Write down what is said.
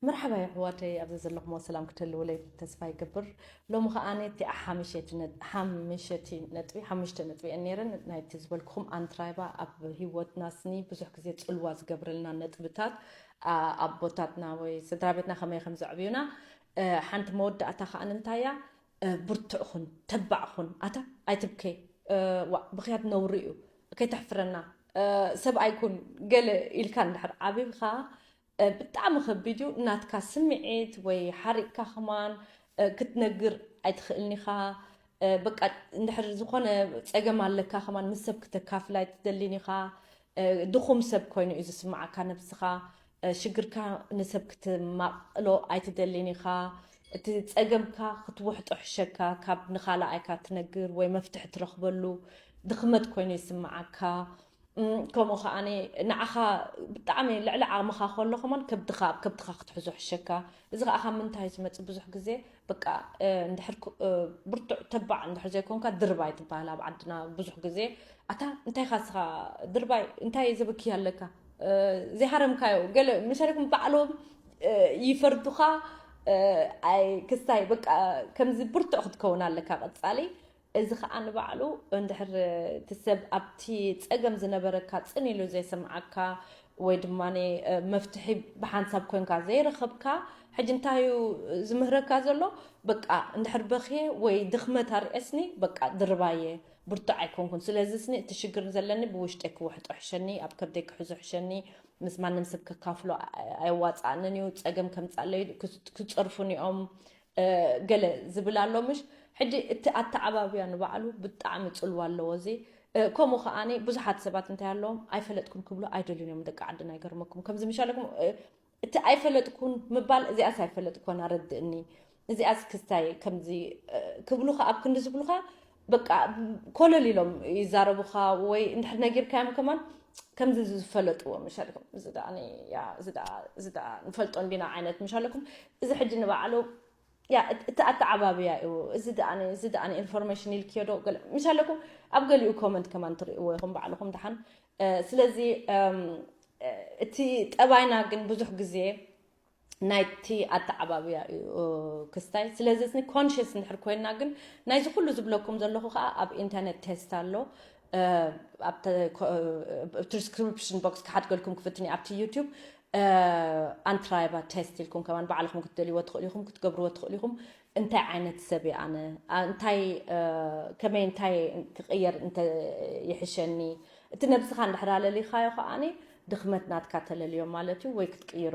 መርሓባ የሕዋተይ ኣብዚ ዘለኹሞ ሰላም ክትህልውለይ ተስፋ ይገብር ሎሚ ከኣ እቲ ሓምሸቲ ነጥቢ ሓሙሽተ ነጥቢ እየን ነይረን ናይቲ ዝበልክኹም ኣንትራይባ ኣብ ሂወትና ስኒ ብዙሕ ግዜ ጽልዋ ዝገብረልና ነጥብታት ኣቦታትና ወይ ስድራ ቤትና ከመይ ከም ዘዕብዩና ሓንቲ መወዳእታ ከኣ እንታይ እያ ብርቱዕ ኹን ተባዕ ኹን ኣታ ኣይትብከይ ዋእ ብኽያት ነውሪ እዩ ከይተሕፍረና ሰብኣይ ኩን ገለ ኢልካ እንድሕር ዓቢብካ ብጣዕሚ ከቢድ እዩ ናትካ ስምዒት ወይ ሓሪቅካ ከማን ክትነግር ኣይትኽእልን ኢኻ በቃ እንድሕር ዝኾነ ፀገም ኣለካ ከማን ምስ ሰብ ክተካፍል ኣይትደሊን ኢኻ ድኹም ሰብ ኮይኑ እዩ ዝስምዓካ ነብስኻ ሽግርካ ንሰብ ክትማቕሎ ኣይትደሊን ኢኻ፣ እቲ ጸገምካ ክትውሕጦ ሕሸካ፣ ካብ ንኻልኣይካ ትነግር ወይ መፍትሒ ትረኽበሉ ድኽመት ኮይኑ ይስምዓካ፣ ከምኡ ከኣ ንዓኻ ብጣዕሚ ልዕሊ ዓቕምኻ ከሎ ከማን ከብድኻ ኣብ ከብድኻ ክትሕዞ ሕሸካ፣ እዚ ከኣ ካብ ምንታይ እዩ ዝመጽእ ብዙሕ ግዜ በቃ እንድሕር ብርቱዕ ተባዕ እንድሕር ዘይኮንካ ድርባይ ትበሃል ኣብ ዓድና ብዙሕ ግዜ ኣታ እንታይ ኢኻ ስኻ ድርባይ እንታይ ዘበክያ ኣለካ ዘይሃረምካዮ ገለ መሸረክም ባዕሎም ይፈርዱኻ ኣይ ክስታይ በቃ ከምዚ ብርቱዕ ክትከውን ኣለካ ቀፃሊ እዚ ኸኣ ንባዕሉ እንድሕር እቲ ሰብ ኣብቲ ጸገም ዝነበረካ ጽን ኢሉ ዘይሰምዓካ ወይ ድማ መፍትሒ ብሓንሳብ ኮንካ ዘይረኸብካ ሕጂ እንታይ እዩ ዝምህረካ ዘሎ በቃ እንድሕር በኽየ ወይ ድኽመት ኣርእየስኒ በቃ ድርባይ እየ ብርቱዕ ኣይኮንኩን ስለዚ ስኒ እቲ ሽግር ዘለኒ ብውሽጠይ ክውሕጦ ሕሸኒ ኣብ ከብደይ ክሕዞ ሕሸኒ ምስ ማንም ሰብ ከካፍሎ ኣየዋጽኣንን እዩ ጸገም ከምጻለይ ክጸርፉኒ እዮም ገለ ዝብል ኣሎ ምሽ ሕጂ እቲ ኣተዓባብያ ንባዕሉ ብጣዕሚ ጽልዋ ኣለዎ እዚ ከምኡ ከኣ ብዙሓት ሰባት እንታይ ኣለዎም ኣይፈለጥኩን ክብሉ ኣይደልዩን እዮም ደቂ ዓድና ይገርመኩም ከምዚ ምሻለኩም እቲ ኣይፈለጥኩን ምባል እዚኣስ ኣይፈለጥኩን ኣረድእኒ እዚኣስ ክስታይ ከምዚ ክብሉካ ኣብ ክንዲ ዝብሉካ በቃ ኮለል ኢሎም ይዛረቡኻ ወይ እንድሕር ነጊርካዮም ከማን ከምዚ ዝፈለጥዎ ምሻልኩም እዚ ደኣ ያ እዚ ደኣ እዚ ደኣ ንፈልጦ እንዲና ዓይነት ምሻለኩም እዚ ሕጂ ንባዕሉ ያ እቲ ኣተዓባብያ እዩ እዚ ደኣ እዚ ደኣ ኢንፎርሜሽን ኢልክዮ ዶ ገለ ምሻለኩም ኣብ ገሊኡ ኮመንት ከማን ትርእይዎ ኢኹም ባዕልኹም ደሓን ስለዚ እቲ ጠባይና ግን ብዙሕ ግዜ ናይቲ ኣተዓባብያ እዩ ክስታይ ስለዚ እዝኒ ኮንሽስ እንድሕር ኮይና ግን ናይዚ ኩሉ ዝብለኩም ዘለኹ ከዓ ኣብ ኢንተርነት ቴስት ኣሎ ትሪስክሪፕሽን ቦክስ ክሓድገልኩም ክፍትን እዩ ኣብቲ ዩቱብ ኣንትራይባ ቴስት ኢልኩም ከማን ባዕልኹም ክትደልይዎ ትኽእሉ ኢኹም ክትገብርዎ ትኽእሉ ኢኹም እንታይ ዓይነት ሰብ እየ ኣነ? እንታይ ከመይ እንታይ ክቕየር እንተ ይሕሸኒ? እቲ ነብስኻ እንድሕር ኣለሊኻዮ ከኣ ድኽመት ናትካ ተለልዮ ማለት እዩ ወይ ክትቅይሮ